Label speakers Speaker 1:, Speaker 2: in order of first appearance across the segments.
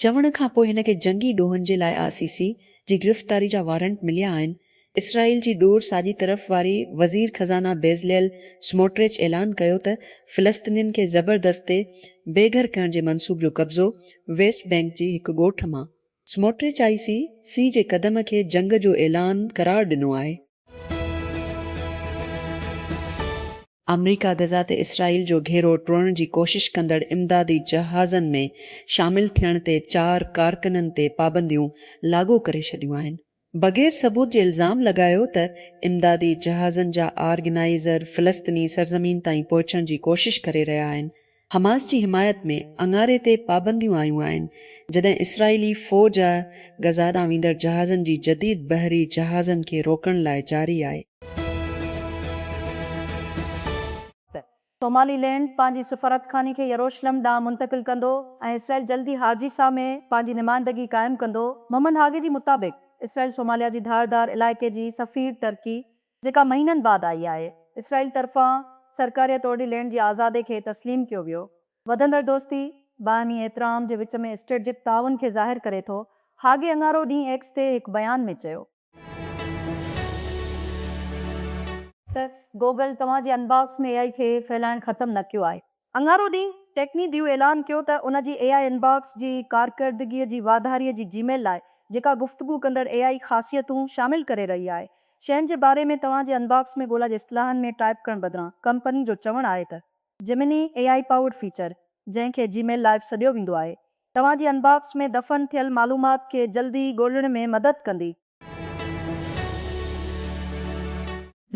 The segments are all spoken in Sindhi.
Speaker 1: چوڻ کان پوء هن کي جنگي ڏوهن جي لاء آء سي سي جي گرفتاري جا وارنٽ مليا آهن. اسرائيل جي ڏور ساڄي طرف واري وزير خزانه بيزليل سموٽريچ اعلان ڪيو ته فلسطينين کي زبردستي بي گهر ڪرڻ جي منصوب جو قبضو ويسٽ بينڪ جي هڪ ڳوٺ مان سموٽرچ آء سي سي جي قدم کي جنگ جو اعلان قرار ڏنو آهي. آمريڪا غزه تي اسرائيل جو گهيرو ٽوڙڻ جي ڪوشش ڪندڙ امدادي جهازن ۾ شامل ٿيڻ تي چار ڪارڪنن تي پابنديون لاڳو ڪري ڇڏيون آهن. بغير ثبوت جي الزام لڳايو ته امدادي جهازن جا آرگنائيزر فلسطيني سرزمين تائين پهچڻ جي ڪوشش ڪري رهيا آهن، حماس جي حمايت ۾ اڱاري تي پابنديون آيون آهن، جڏهن اسرائيلي فوج غزه ڏانهن ويندڙ جهازن جي جديد بحري جهازن کي روڪڻ لاء جاري آهي.
Speaker 2: سومالي لينڊ پنهنجي سفارتخاني کي يروشلم ڏانهن منتقل ڪندو ۽ اسرائيل جلدي هارجيسا ۾ پنهنجي نمائندگي قائم ڪندو. محمد هاگي جي مطابق اسرائيل سوماليا جي ڌار ڌار علائقي جي سفير ترڪي جيڪا مهينن بعد آئي آهي، اسرائيل طرفان سرڪاريه طورڏي لينڊ جي آزادي کي تسليم ڪيو ويو. وڌندڙ دوستي باهمي احترام جي وچ ۾ اسٽريٽجڪ تعاون کي ظاهر ڪري ٿو، هاگي اڱارو ڏينهن ايڪس تي هڪ بيان ۾ چيو. ته گوگل توهان جي انباڪس ۾ اي آء کي ڦهلائڻ ختم نه ڪيو آهي. اڱارو ڏينهن ٽيڪني ديو اعلان ڪيو ته ان جي اي آء انباڪس جي ڪارڪردگي جي واڌاري جي جي ميل لاء جيڪا گفتگو ڪندڙ اي آء خاصيتون شامل ڪري رهي آهي شين جي باري ۾ توهان جي انباڪس ۾ ڳولا جي اصطلاحن ۾ ٽائپ ڪرڻ بدران ڪمپني جو چوڻ آهي ته Gemini A I powered feature جنهن کي جي ميل لائيو سڏيو ويندو آهي توهان جي انباڪس ۾ دفن ٿيل معلومات کي جلدي ڳولڻ ۾ مدد ڪندي.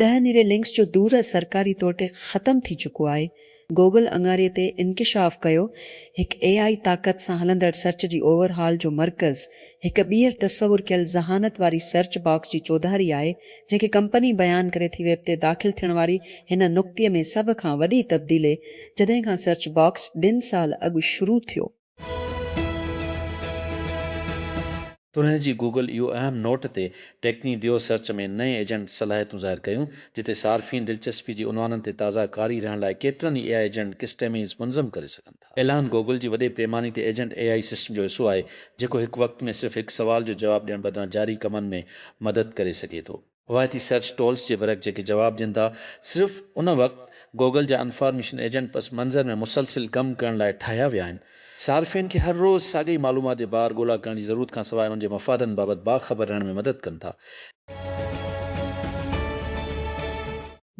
Speaker 1: ڏهه نيري لنڪس جو دور سرڪاري طور تي ختم ٿي چڪو آهي، گوگل اڱاري تي انڪشاف ڪيو، هڪ اي آء طاقت سان هلندڙ سرچ جي اوور هال جو مرڪز هڪ ٻيهر تصور ڪيل ذهانت واري سرچ باڪس جي چوڌاري آهي، جنهن کي ڪمپني بيان ڪري ٿي ويب تي داخل ٿيڻ واري هن نڪتي ۾ سڀ کان وڏي تبديلي جڏهن کان سرچ باڪس ڏھن سال اڳ شروع ٿيو.
Speaker 3: تنهن جي گوگل اهو اهم نوٽ تي ٽيڪني ديو سرچ ۾ نئين ايجنٽ صلاحيتون ظاهر ڪيون جتي صارفين دلچسپي جي عنوانن تي تازه قاري رهڻ لاء ڪيترن ئي اي آء ايجنٽ ڪسٽميز منظم ڪري سگهن ٿا. ٿا. ايلان گوگل جي وڏي پيماني تي ايجنٽ اي آئي سسٽم جو حصو آهي، جيڪو هڪ وقت ۾ صرف هڪ سوال جو جواب ڏيڻ بدران جاري ڪمن ۾ مدد ڪري سگهي ٿو. روايتي سرچ ٽولز جي ورق جيڪي جواب ڏين ٿا، صرف ان وقت گوگل جا انفارميشن ايجنٽ پس منظر ۾ مسلسل ڪم ڪرڻ لاء ٺاهيا ويا آهن. صارفين کي هر روز ساڳئي معلومات جي بار ڳولا ڪرڻ جي ضرورت کان سواء انهن جي مفادن بابت باخبر رهڻ ۾ مدد ڪن ٿا.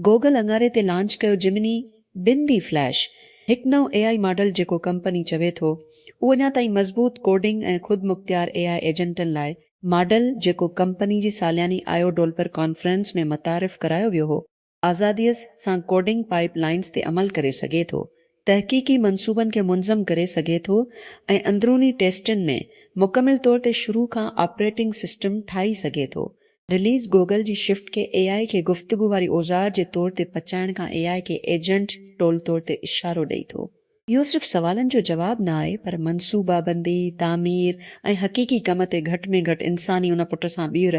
Speaker 1: گوگل اڱاري تي لانچ ڪيو جمني ٻن ڊي فليش، هڪ نئون اي آء ماڊل جيڪو ڪمپني چوي ٿو اهو اڃا تائين مضبوط ڪوڊنگ ۽ خود مختيار اي آء ايجنٽن لاء، ماڊل جيڪو ڪمپني جي سالياني آء او ڊولپر ڪانفرنس ۾ متعارف ڪرايو ويو هو، آزاديء سان ڪوڊنگ پائيپ لائنز تي عمل ڪري سگهي ٿو، تحقيقي منصوبن کي منظم ڪري سگهي ٿو ۽ اندروني ٽيسٽن ۾ مڪمل طور تي شروع کان آپريٽنگ سسٽم ٺاهي سگهي ٿو، رليز گوگل جي شفٽ کي اي آء کي گفتگو واري اوزار جي طور تي پچائڻ کان اي آء کي ايجنٽ ٽول طور تي اشارو ڏئي ٿو. اهو صرف سوالن جو جواب نه آهي پر منصوبابندي، تعمير ۽ حقيقي ڪم تي گهٽ ۾ گهٽ انساني ان پٽ سان ٻيهر،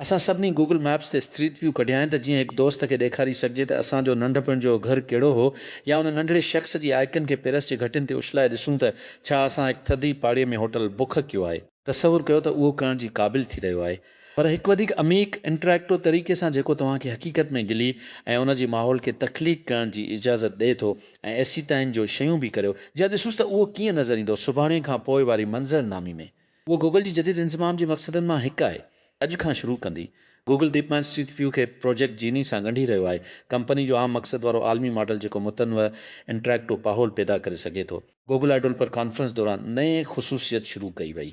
Speaker 3: اسان سڀني گوگل ميپس تي اسٽريٽ ويو ڪڍيائين ته جيئن هڪ دوست کي ڏيکاري سگهجي ته اسان جو ننڍپڻ جو گهر ڪهڙو هو يا ان ننڍڙي شخص جي آئيڪن کي پيرس جي گهٽين تي اڇلائي ڏسون ته ڇا اسان هڪ ٿڌي پاڙي ۾ هوٽل بڪ ڪيو آهي. تصور ڪيو ته اهو ڪرڻ جي قابل ٿي رهيو آهي. پر هڪ وڌيڪ عميق، انٽريڪٽو طريقي سان جيڪو توهان کي حقيقت ۾ گلي ۽ ان جي ماحول کي تخليق ڪرڻ جي اجازت ڏئي ٿو ۽ ايسيتائين جو شيون به ڪريو جيئن ڏسوس ته اهو ڪيئن نظر ايندو سڀاڻي کان پوء واري منظرنامي ۾ اهو گوگل جي جديد انضمام جي مقصدن مان هڪ آهي. اڄ کان شروع ڪندي، Google deep mind street view کي پروجيڪٽ جيني سان ڳنڍي رهيو آهي. ڪمپني جو عام مقصد وارو عالمي ماڊل جيڪو متنوع انٽريڪٽو پاحول پيدا ڪري سگهي ٿو. گوگل آء ڊولپر ڪانفرنس دوران نئين خصوصيت شروع ڪئي وئي.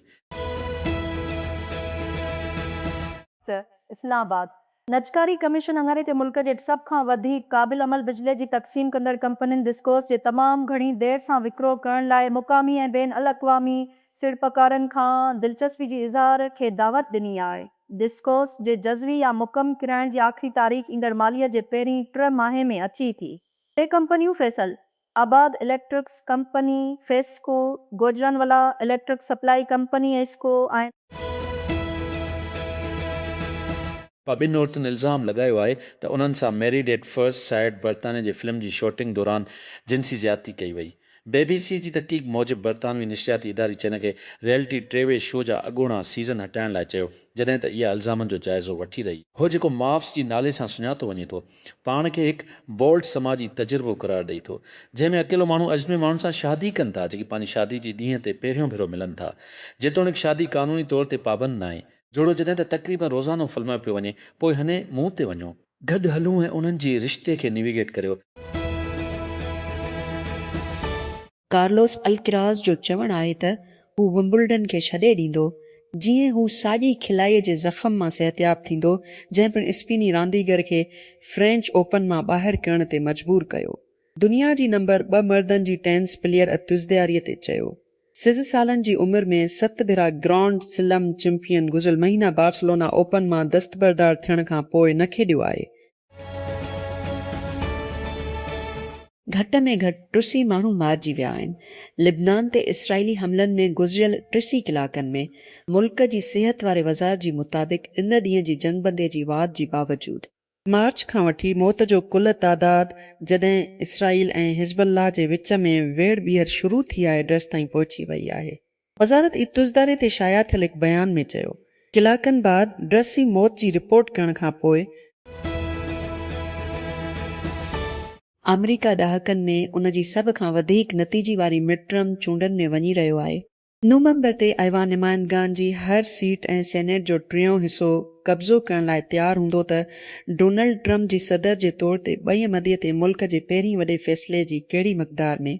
Speaker 2: ته اسلام آباد، نجڪاري ڪميشن اڱري تي ملڪ جي سڀ کان وڌيڪ قابل عمل بجلي جي تقسيم ڪندڙ ڪمپنين ڊسڪوز جي تمام گهڻي دير سان وڪرو ڪرڻ لاء مقامي ۽ بين الاقوامي سيڙپڪارن کان دلچسپي جي اظهار کي دعوت ڏني آهي. ڊسڪوز جي جزوي يا مڪمل ڪرائڻ جي آخري تاريخ ايندڙ ماليه جي پهرين ٽه ماهي ۾ اچي ٿي. ٽي ڪمپنيون Faisalabad electrics company, FESCO, Gujranwala electric supply company, ايسڪو، آهن.
Speaker 3: پ ٻن عورتن الزام لڳايو آهي ته انهن سان ميريڊ ايٽ فرسٽ سائيٽ برطانيا جي فلم جي شوٽنگ دوران جنسي زيادتي ڪئي وئي. بي بي سي جي تحقيق موجب برطانوي نشرياتي اداري چينل کي ريئلٽي ٽي وي شو جا اڳوڻا سيزن هٽائڻ لاء چيو. جڏهن ته اها الزامن جو جائزو وٺي رهي آهي. هو جيڪو ماپس جي نالي سان سڃاتو وڃي ٿو، پاڻ کي هڪ بولڊ سماجي تجربو قرار ڏئي ٿو، جنهن ۾ اڪيلو ماڻهو اجنبي ماڻهن سان شادي ڪن ٿا، جيڪي پنهنجي شادي جي ڏينهن تي پهريون ڀيرو ملن ٿا، جيتوڻيڪ شادي قانوني طور تي پابند ناهي. جوڙو جڏهن ته تقريبن روزانو فلمايو پيو وڃي، پوء هني مون تي وڃو. گڏ هلون ۽ انهن جي رشتي کي نيويگيٽ ڪريو.
Speaker 1: ڪارلوس الڪراز جو چوڻ آهي ته هو ومبلڊن کي ڇڏي ڏيندو جيئن هو ساڄي کلائي جي زخم مان صحتياب ٿيندو، جنهن پڻ اسپيني رانديگر کي فرينچ اوپن مان ٻاهر ڪرڻ تي مجبور ڪيو. دنيا جي نمبر ٻه مردن جي ٽينس پليئر اتوزدياري تي چيو سيز سالن جي عمر ۾ ست ڀيرا گرانڊ سلم چمپين گذريل مهينا بارسلونا اوپن مان دستبردار ٿيڻ کان پوء نه کيڏيو آهي گهٽ ۾ گهٽ ٽه سي ماڻهو مارجي ويا آهن. لبنان تي اسرائيلي حملن ۾ گذريل ٽه سي ڪلاڪن ۾ ملڪ جي صحت واري وزارت جي مطابق ان ڏينهن جي جنگبندي جي واڌ جي باوجود، مارچ کان وٺي موت جو ڪل تعداد جڏهن اسرائيل ۽ حزب الله جي وچ ۾ ويڙهه ٻيهر شروع ٿي آهي ڊرس تائين پهچي وئي آهي. وزارت اتوزداري تي شايع ٿيل هڪ بيان ۾ چيو ڪلاڪن بعد ڊرس جي موت جي رپورٽ ڪرڻ کان پوء، آمريڪا ڏهاڪن ۾ ان جي سڀ کان وڌيڪ نتيجي واري مڊ ٽرم چونڊن ۾ وڃي رهيو آهي. نومبر تي ايوان نمائندگان جي هر سيٽ ۽ سينيٽ جو ٽيون حصو قبضو ڪرڻ لاء تيار هوندو ته ڊونلڊ ٽرمپ جي صدر جي طور تي ٻئي مدي تي ملڪ جي پهرين وڏي فيصلي جي ڪهڙي مقدار ۾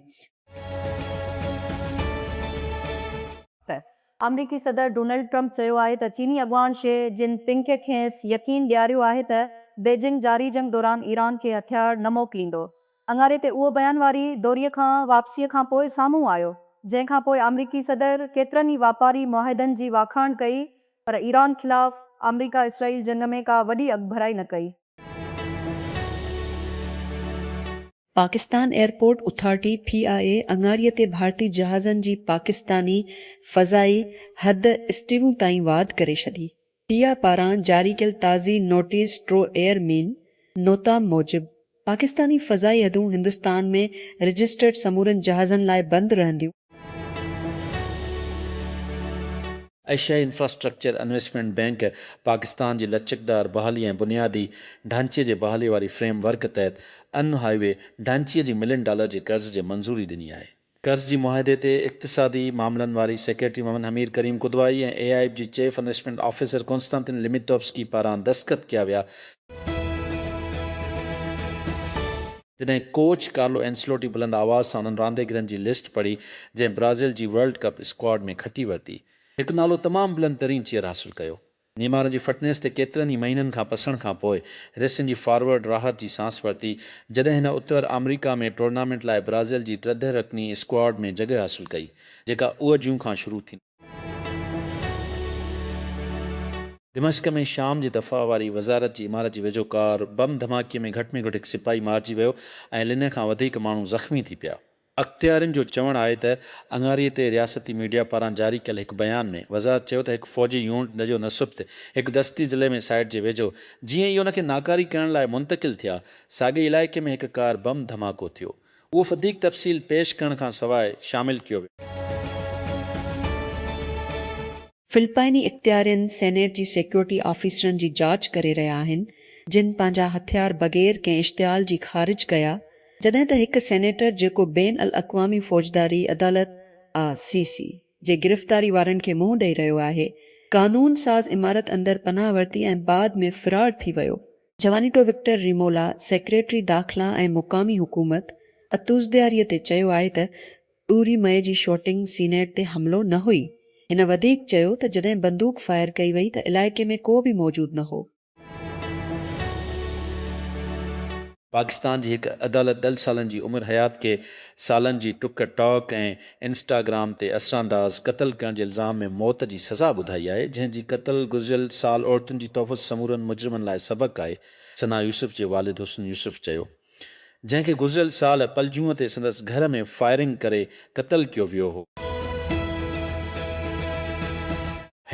Speaker 2: آمريڪي صدر ڊونلڊ ٽرمپ چيو آهي ته چيني اڳواڻ شي جن پنگ کي کيس يقين ڏياريو آهي ته بيجنگ جاري جنگ دوران ايران کي هٿيار نه موڪليندو. اڱاري تي اهو بيان واري دوري کان واپسي کان پوء سامهون آيو، جنهن کان پوء آمريڪي صدر ڪيترن ئي واپاري معاهدن جي واکاڻ ڪئي پر ايران خلاف آمريڪا اسرائيل جنگ ۾ ڪا وڏي اڳڀرائي نه ڪئي.
Speaker 1: Pakistan airport authority, P I A, اڱاري تي ڀارتي جهازن جي پاڪستاني فضائي حد اسٽيون تائين واڌ ڪري ڇڏي. پي آء اي پاران جاري ڪيل تازي notice to airmen NOTAM موجب، پاڪستاني فضائي حدون هندستان ۾ رجسٽرڊ سمورن جهازن لاء بند رهنديون.
Speaker 3: ايشيائي انفراسٽرڪچر انويسٽمينٽ بينڪ پاڪستان جي لچڪدار بحالي ۽ بنيادي ڍانچي جي بحالي واري فريم ورڪ تحت ان هاء وي ڍانچي جي ملين ڊالر جي قرض جي منظوري ڏني آهي. قرض جي معاهدي تي اقتصادي معاملن واري secretary Muhammad Humair Karim Kidwai ۽ I M F جي chief investment officer Konstantin Limitovskiy پاران دستخط ڪيا ويا. جڏهن ڪوچ ڪارلو اينسلوٽي بلند آواز سان انهن رانديگرن جي لسٽ پڙهي جنهن برازيل جي ورلڊ ڪپ اسڪواڊ ۾ کٽي ورتي، هڪ نالو تمام بلند ترين چيئر حاصل ڪيو. نيمار جي فٽنيس تي ڪيترن ئي مهينن کان پسڻ کان پوء ريسين جي فارورڊ راحت جي سانس ورتي جڏهن هن اتر آمريڪا ۾ ٽورنامينٽ لاء برازيل جي ٽرده رڪني اسڪواڊ ۾ جڳهه حاصل ڪئي جيڪا اهو جون کان شروع ٿيندي. دمشق ۾ شام جي دفاع واري وزارت جي عمارت جي ويجهو ڪار بم ڌماڪي ۾ گهٽ ۾ گهٽ هڪ سپاهي مارجي ويو ۽ لنهه کان وڌيڪ ماڻهو زخمي ٿي پيا. اختيارين جو چوڻ آهي ته اڱاري تي رياستي ميڊيا پاران جاري ڪيل هڪ بيان ۾ وزارت چيو ته هڪ فوجي يونٽ جو نصبت هڪ دستي ضلعي ۾ سائيٽ جي ويجهو جيئن ئي ان کي ناڪاري ڪرڻ لاء منتقل ٿيا ساڳئي علائقي ۾ هڪ ڪار بم ڌماڪو ٿيو اهو فديق تفصيل پيش ڪرڻ کان سواء شامل ڪيو ويو.
Speaker 1: فلپائني اختيارين سينيٽ جي سيڪيورٽي آفيسرن جي جاچ ڪري رهيا آهن جن پنهنجا هٿيار بغير ڪنهن اشتعال جي خارج ڪيا جڏهن ته هڪ سينيٽر جيڪو بين الاقوامي فوجداري عدالت آء سي سي جي گرفتاري وارن کي منهن ڏئي رهيو آهي قانون ساز عمارت اندر پناهه ورتي ۽ بعد ۾ فرار ٿي ويو جوانيٽو وڪٽر ريمولا، سيڪريٽري داخلا ۽ مقامي حڪومت اتوزدياري تي چيو آهي ته ڏوري مئي جي شوٽنگ سينيٽ تي حملو نه هئي. هن وڌيڪ چيو ته جڏهن بندوق فائر ڪئي وئي ته علائقي ۾ ڪو به موجود نه هو.
Speaker 3: پاڪستان جي هڪ عدالت ڏل سالن جي عمر حيات کي سالن جي ٽڪ ٽاڪ ۽ انسٽاگرام تي اسرانداز قتل ڪرڻ جي الزام ۾ موت جي سزا ٻڌائي آهي، جنهن جي قتل گذريل سال عورتن جي تحفظ سمورن مجرمن لاء سبق آهي، ثنا يوسف جي والد حسن يوسف چيو، جنهن کي گذريل سال پلجوء تي سندس گهر ۾ فائرنگ ڪري قتل ڪيو ويو هو.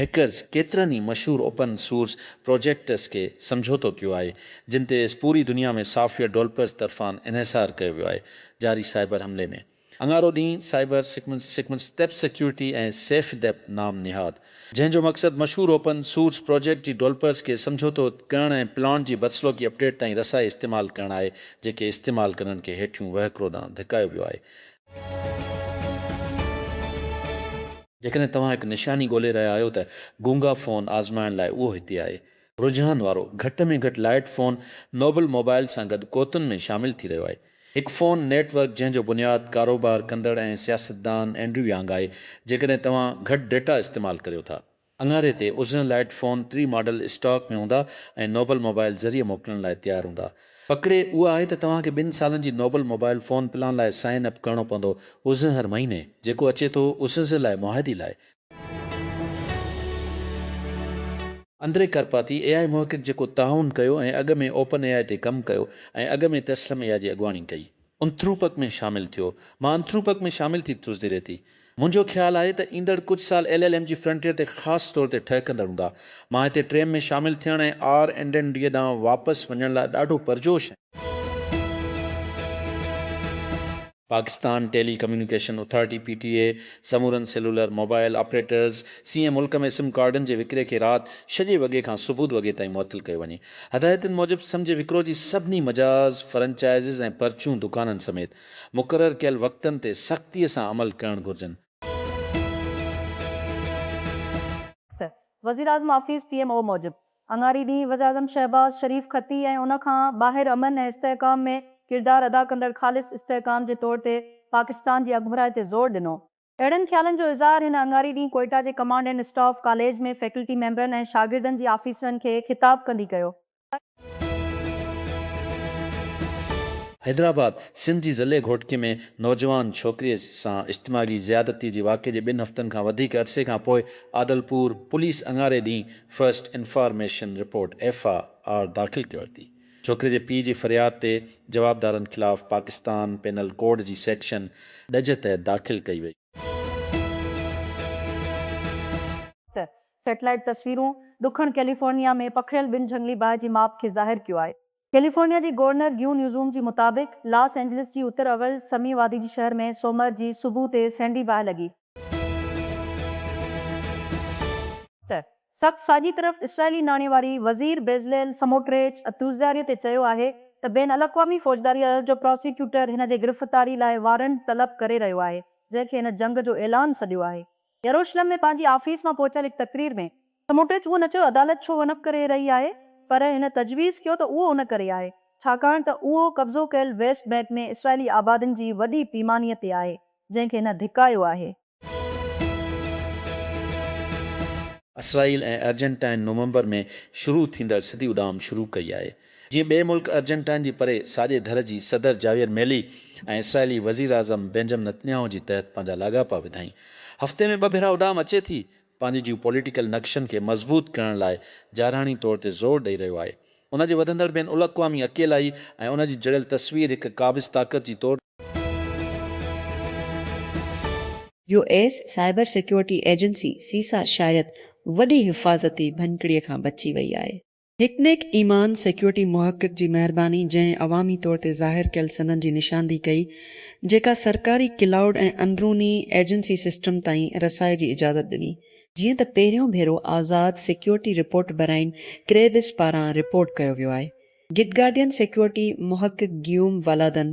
Speaker 3: هيڪرز ڪيترن ئي مشهور اوپن سورس پروجيڪٽس کي سمجهوتو ڪيو آهي، جن تي پوري دنيا ۾ سافٽ ويئر ڊولپرز طرفان انحصار ڪيو ويو آهي، جاري سائبر حملي ۾. اڱارو ڏينهن سائبر سيڪمنس تيپ سيڪيورٽي ۽ سيف ديپ نام نهاد جنهن جو مقصد مشهور اوپن سورس پراجيڪٽ جي ڊولپرز کي سمجهوتو ڪرڻ ۽ پلانٽ جي بدسلوڪي اپڊيٽ تائين رسائي استعمال ڪرڻ آهي جيڪي استعمال ڪندڙن کي هيٺيون وهڪرو ڏانهن ڌڪايو ويو آهي. جيڪڏهن توهان هڪ نشاني ڳولي رهيا آهيو ته گونگا فون آزمائڻ لاء اهو هتي آهي. رجحان وارو گهٽ ۾ گهٽ لائٽ فون نوبل موبائيل سان گڏ قوتن ۾ شامل ٿي رهيو آهي. هڪ فون نيٽ ورڪ جنهن جو بنياد ڪاروبار ڪندڙ ۽ سياستدان اينڊريو يانگ آهي جيڪڏهن توهان گهٽ ڊيٽا استعمال ڪريو ٿا. اڱاري تي عزرن لائٽ فون ٽي ماڊل اسٽاڪ ۾ هوندا ۽ نوبل موبائيل ذريعي موڪلڻ لاء تيار هوندا. پڪڙي اها آهي ته توهان کي ٻن سالن جي نوبل موبائيل فون پلان لاء سائن اپ ڪرڻو پوندو عزرهر مهيني جيڪو اچي ٿو عزرلاء معاهدي لاء. اندري ڪرپاٿي، اي آء محقق جيڪو تعاون ڪيو ۽ اڳ ۾ اوپن اي آء تي ڪم ڪيو ۽ اڳ ۾ تيسلم اي آء جي اڳواڻي ڪئي، انٿروپڪ ۾ شامل ٿيو. مان انٿروپڪ ۾ شامل ٿي ٽيوزڊي ريتي. منهنجو خيال آهي ته ايندڙ ڪجهه سال ايل ايل ايم جي فرنٽيئر تي خاص طور تي ٺهڪندڙ هوندا. مان هتي ٽريم ۾ شامل ٿيڻ ۽ آر اينڊ اين ڊي ڏانهن واپس وڃڻ لاء ڏاڍو پرجوش آهيان. Pakistan telecommunication authority, P T A, سمورن سيلولر موبائل آپريٽرز سيئن ملڪ ۾ سم ڪارڊن جي وڪري کي رات شڄي وڳي کان سبوت وڳي تائين معطل ڪيو وڃي. هدايتن موجب سم جي وڪرو جي سڀني مجاز، فرنچائزز ۽ پرچون دڪانن سميت مقرر ڪيل وقتن تي سختي سان عمل ڪرڻ گهرجن.
Speaker 2: وزيراعظم آفيس، پي ايم او، موجب اڱاري ڏينهن وزيراعظم شهباز شريف کتي ۽ ان کان ٻاهر امن ۽ استحڪام ۾ ڪردار ادا ڪندڙ خالص استحڪام جي طور تي پاڪستان جي اڳڀرائي تي زور ڏنو. اهڙن خيالن جو اظهار هن اڱاري ڏينهن ڪوئيٽا جي command and staff college ۾ faculty ميمبرن ۽ شاگردن جي آفيسرن کي خطاب ڪندي ڪيو.
Speaker 3: حيدرآباد، سنڌ جي ضلعي گهوٽڪي ۾ نوجوان ڇوڪريء سان اشتماعي زيادتي جي واقعي جي ٻن هفتن کان وڌيڪ عرصي کانپوء عادلپور پوليس اڱاري ڏينهن first information report, F I R, داخل ڪيو ٿي. ڇوڪري جي پيء جي فرياد تي جوابدارن خلاف پاڪستان پينل ڪوڊ جي سيڪشن ڏج تحت داخل ڪئي وئي.
Speaker 2: ته سيٽلائيٽ تصويرون ڏکڻ ڪيليفورنيا ۾ پکڙيل ٻن جهنگلي باهه جي ماپ کي ظاهر ڪيو آهي. ڪيليفورنيا جي گورنر گيو نيوزوم جي مطابق لاس اينجلس جي اتر اولھ سمي وادي جي شهر ۾ سومر جي صبح تي سهڻي باهه لڳي، ته سخت ساڄي طرف اسرائيلي ناڻي واري وزير بيزليل سموٽريچ اتوزداري تي چيو آهي ته بين الاقوامي فوجداري عدالت جو پراسيڪيوٽر هن جي گرفتاري لاء وارنٽ طلب ڪري رهيو آهي جنهن کي هن جنگ جو اعلان سڏيو آهي يروشلم ۾ پنهنجي آفيس مان پهچيل هڪ تقرير ۾، سموٽرچ اهو نه چيو عدالت ڇو ونپ ڪري رهي آهي، پر هن تجويز ڪيو ته اهو ان ڪري آهي، ڇاڪاڻ ته اهو قبضو ڪيل ويسٽ بئنڪ ۾ اسرائيلي آبادين جي وڏي پيماني تي آهي، جنهن کي هن ڌڪايو آهي.
Speaker 3: اسرائيل ۽ ارجنٽائن نومبر ۾ شروع ٿيندڙ سڌي اڏام شروع ڪئي آهي. جيئن ٻئي ملڪ ارجنٽائن جي پري ساڄي ڌر جي صدر جاويئر ميلي ۽ اسرائيلي وزيراعظم بينجم نتنياهو جي تحت پنهنجا لاڳاپا وڌائين. هفتي ۾ ٻه ڀيرا اڏام اچي ٿي، پنهنجي جيو پوليٽيڪل نقشن کي مضبوط ڪرڻ لاء جارحاڻي طور تي زور ڏئي رهيو آهي. ان جي وڌندڙ بين الاقوامي اڪيلائي ۽ ان جي جڙيل تصوير هڪ قابض طاقت جي طور
Speaker 1: U S cyber security agency CISA شايد وڏي حفاظتي ڀڃڪڙي کان بچي وئي آهي. هڪ نيڪ ايمان سيڪيورٽي محقق جي مهرباني جنهن عوامي طور تي ظاهر ڪيل سندن جي نشاندهي ڪئي جيڪا سرڪاري ڪلائوڊ ۽ اندروني ايجنسي سسٽم تائين رسائي جي اجازت ڏني. جيئن ته پهريون ڀيرو آزاد سيڪيورٽي رپورٽ براين ڪريبس پاران رپورٽ ڪيو ويو آهي. گدگارڊين سيڪيورٽي محقق گيوم والادن